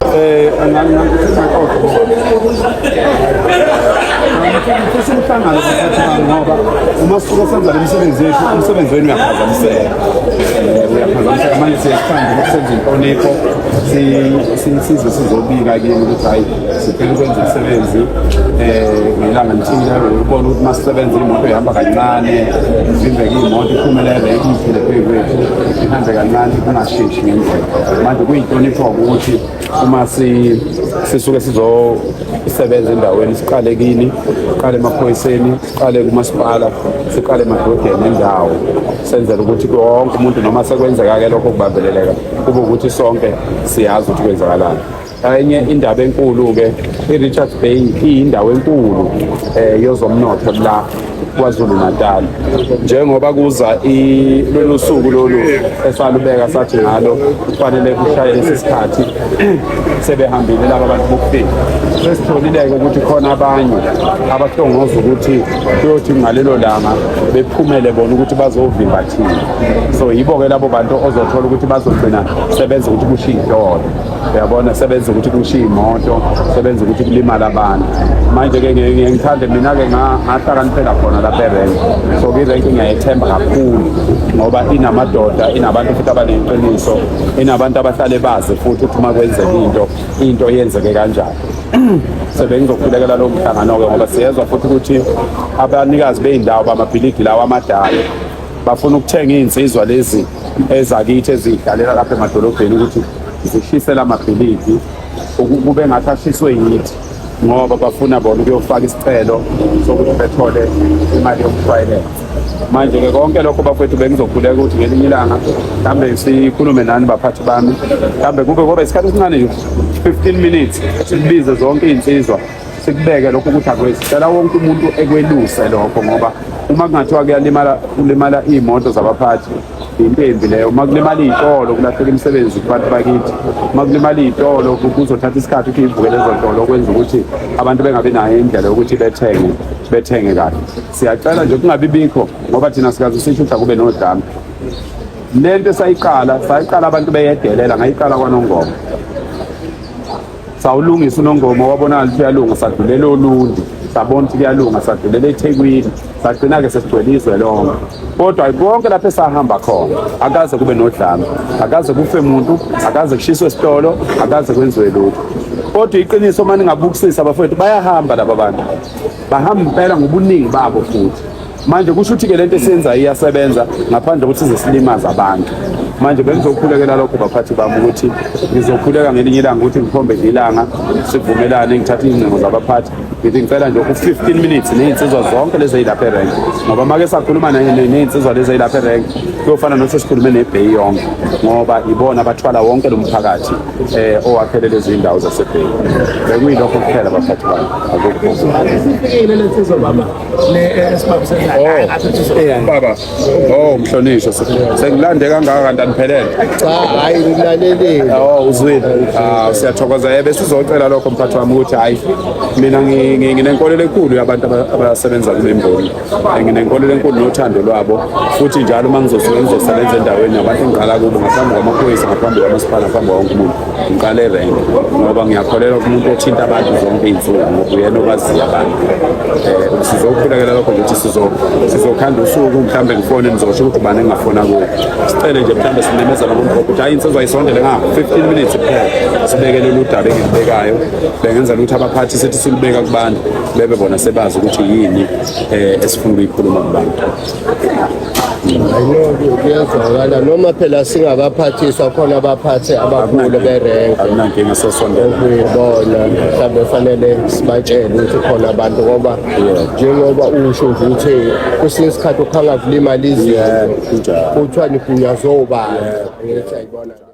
Eh, ngifisa umhlangano kuphathana ngoba uma sisuke senza le misebenzi yethu umsebenzi wenu uyaphazamiseka eh, uyaphazamiseka manje siyasithanda ukuthi senze inhlonipho size sizobika kini ukuthi hhayi siphela ukwenza umsebenzi um ngelanga lithile ubona ukuthi uma sisebenza imoto ihamba kancane ivimbeke imoto iphumelele ikuyithele phezu kwethu ihambe kancane kungasheshi ngendlela manje kuyinhlonipho ukuthi uma sisuke sizosebenza endaweni siqale kini siqale emaphoyiseni siqale kumasipala siqale emadodeni endawo senzela ukuthi wonke umuntu noma sekwenzeka-ke lokho kubambeleleka kube ukuthi sonke siyazi ukuthi kwenzakalani Enye indaba enkulu-ke i-Richards Bay iyindawo enkulu um eh, yozomnotho la KwaZulu Natal njengoba kuza lolu suku lolu esalubeka sathi ngalo kufanele kushaye lesi sikhathi sebehambile laba bantu bokufika sesitholile-ke ukuthi khona abanye abahlongoza ukuthi kuyothi ngalelo langa bephumele bona ukuthi bazovimba thina so yibo-ke labo bantu ozothola ukuthi bazogcina sebenza ukuthi kushiye idolo uyabona sebenza ukuthi kushiye imoto sebenza ukuthi kulimala abantu manje-ke ngiye ngithande mina-ke ngahlakaniphela khona lapha erenki so kwirenki ngiyayethemba kakhulu ngoba inamadoda inabantu futhi abaneqiniso inabantu abahlale bazi futhi ukuthi uma kwenzeka into into yenzeke kanjani sebengizokhulekela lowo mhlangano-ke ngoba siyezwa futhi ukuthi abanikazi bey'ndawo bamabhilidi lawo amadala bafuna ukuthenga iy'nsizwa lezi ezakithi ezidlalela lapha emadolobheni ukuthi zishisela amabhilidi kube ngathi ashiswe yithi ngoba bafuna bona ukuyofaka isicelo sokuthi bethole imali yokushwayelensa manje-ke konke lokho bafethu bengizokhuleka ukuthi ngelinye ilanga mhlawumbe sikhulume nani baphathi bami mhlawumbe kube koba isikhathi esincane nje 15 minutes sibize zonke iy'nsizwa sikubeke lokho ukuthi akwezi cela wonke umuntu ekweluse lokho ngoba uma kungathiwa kuyalimala kulimala iy'moto zabaphathi impembi leyo uma kulimala iy'tolo kulahleka imisebenzi kubantu bakithi uma kulimala iy'tolo kuzothatha isikhathi ukuthi ivukele ezontolo okwenza ukuthi abantu bengabi nayo indlela yokuthi bethenge bethenge kahle siyacela nje kungabi bikho ngoba thina sikaze sisho ukuthi akube nodlame le nto esayiqala sayiqala abantu beyedelela ngayiqala kwanongoma sawulungisa unongoma wabonakala ukuthi uyalunga sadlulela olundi sabona ukuthi kuyalunga sadlulela ethekwini sagcina-ke sesigcwele izwe lonke kodwa konke lapho esahamba khona akaze kube nodlame akaze kufe muntu akaze kushiswe esitolo akaze kwenziwe lutho kodwa iqiniso uma ningabukisisa abafowethu bayahamba laba bantu bahamba impela ngobuningi babo futhi manje kusho ukuthi ke lento esenza iyasebenza ngaphandle kokuthi size silimaze abantu manje bengizokhulekela lokho baphathi bami ukuthi ngizokhuleka ngelinye ilanga ukuthi ngikhombe ilanga sivumelane ngithathe izingcingo zabaphathi ngithi ngicela nje u-15 minutes ney'nsizwa zonke lezi eyilapha erenk ngoba make sakhuluma ney'nsizwa lezi eyilapha erenk kuyofana nothi sikhulume nebheyi yonke ngoba ibona abathwala wonke lo mphakathi um eh, owakhele lezi iy'ndawo zasebheyi bekuyilokho kuphela baphathi bami akukho baba oh mhlonishwa sengilande kangaka kanti aniphelele cha hayi ngilaleleni oh uzwile ah siyathokoza yebe sizocela lokho mphathi wami ukuthi hayi mina nginenkolelo enkulu yabantu abasebenza kule mboni nginenkolelo enkulu nothando lwabo futhi njalo uma ngizosebenza endaweni yabantu engiqala kubo ngaphambi kwamaphoyisa ngaphambi kwamasipala ngaphambi kwawonke umuntu ngiqale rank ngoba ngiyakholelwa kumuntu othinta abantu zonke iy'nsuku ngoba uyena okwaziyo abantu um sizokukhulekela lokho ukuthi sizokhanda usuku mhlawumbe ngifone ngizosho ukuthi ubani engingafona kuyo sicele nje mhlawumbe simemezela kumuntu ukuthi hhayi insizwa isondele nga fifteen minutes kuphela sibekelele udaba engilibekayo bengenzela ukuthi abaphathi sithi silibeka kubantu bebe bona sebazi ukuthi yini um esifuna ukuyikhuluma kubantu ayinoke kuyezwakala noma phela singakaphathiswa khona abaphathi abakhulu berenke okuyibona mhlawumbe fanele sibatshele ukuthi khona abantu ngoba njengoba usho nje ukuthi kwesinye isikhathi ukhanga kulimala izinto kuthiwa nigunyaze obani ngithi ayibona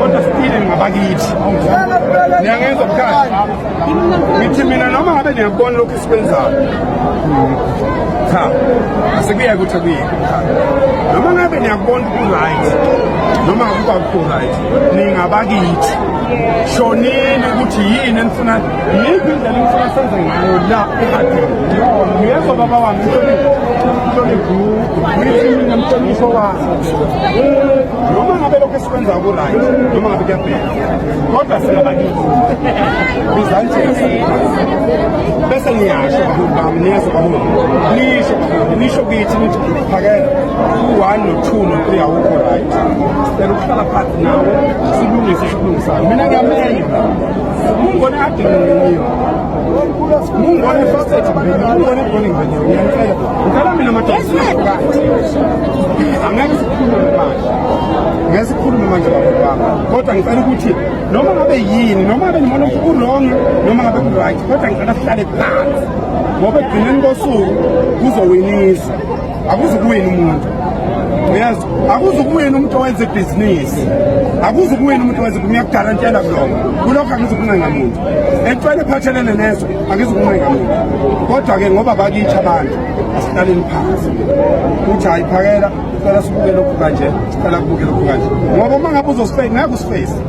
kodwa sitile ngabakithi niyangenza bukhali ngithi mina noma ngabe niyakubona lokhu esikwenzayo cha asekuyeke ukuthi akuyeke noma ngabe niyakubona uku-right noma akuba kuku-right ningabakithi shonini ukuthi yini enifuna yiphi indlela enifuna senze ngayo la ehadini ngiyezwa baba wami mhlonipho wakho noma ngabe lokho esikwenza kuright noma ngabe kuyabheka kodwa singabakithi bizanjesi bese niyasho baholi bami niyezwa baholi nisho baholi nisho kithi phakela u-one no-two no-three awukho right sicela ukuhlala phansi nawo silungise sikulungisayo mina ngiyamenya mungone adingiyo mungone faset mungone boning venye uyanicela ngicela mina madoaati angeke sikhulume manje ngeke sikhulume manje babobanga kodwa ngicela ukuthi noma ngabe yini noma ngabe nimona ukuthi urongi noma ngabe ku-right kodwa ngicela sihlale phansi ngoba ekugcineni kosuku kuzowinisa akuzukuwina umuntu uyazi akuzukuwina umuntu owenza ibhizinisi akuzukuwina umuntu owenza ngiyakudala ntshela kuloko kulokho angizukuncenga muntu entshwele ephathelene nezo angizukuncenga muntu kodwa-ke ngoba bakithi abantu asilaleni phansi ukuthi hayi phakela sicela sibuke lokhu kanje sicela kubuke lokhu kanje ngoba uma ngabe uzosifeyisi ngeke usifeyisi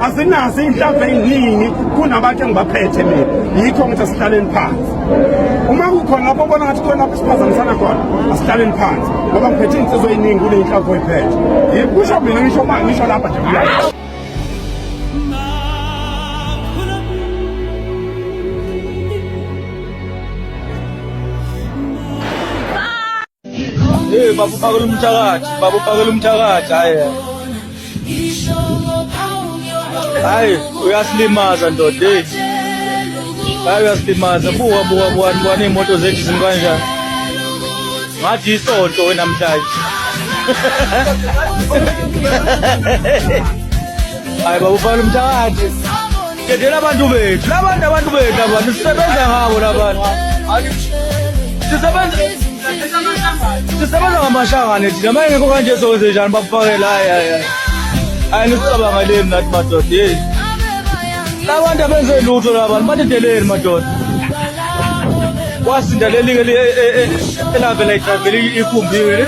asinazo iy'nhlamvu ey'ningi kunabantu engibaphethe mina yikho ngithi asihlaleni phansi uma kukhona lapho obona ngathi khona lapho siphazamisana khona asihlaleni phansi ngoba ngiphethe iy'nsizwa ey'ningi kule y'nhlamvu oyiphethe yikusho mina ngisho ma ngisho lapha nje kuyayo Hey baba uphakela umthakathi, baba uphakela umthakathi hayi. Hayi uyasilimaza ndoda hey. Hayi uyasilimaza buka buka buka buka imoto zethu zimkanjani. Ngathi isonto wena mdlali. Hayi baba uphakela umthakathi. Dedela abantu bethu, labantu abantu bethu abantu sisebenza ngabo labantu. Sisebenza sisebenza ngamashangane thina uma engekho kanje sowenze njani bakufakele hayi hayi hayi. Hayi nisicabangeleni nathi madoda hey. Labantu abenze lutho labantu badedeleni madoda. Wasinda leli ke elavela idrageli ikumbiwe.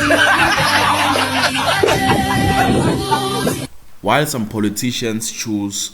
While some politicians choose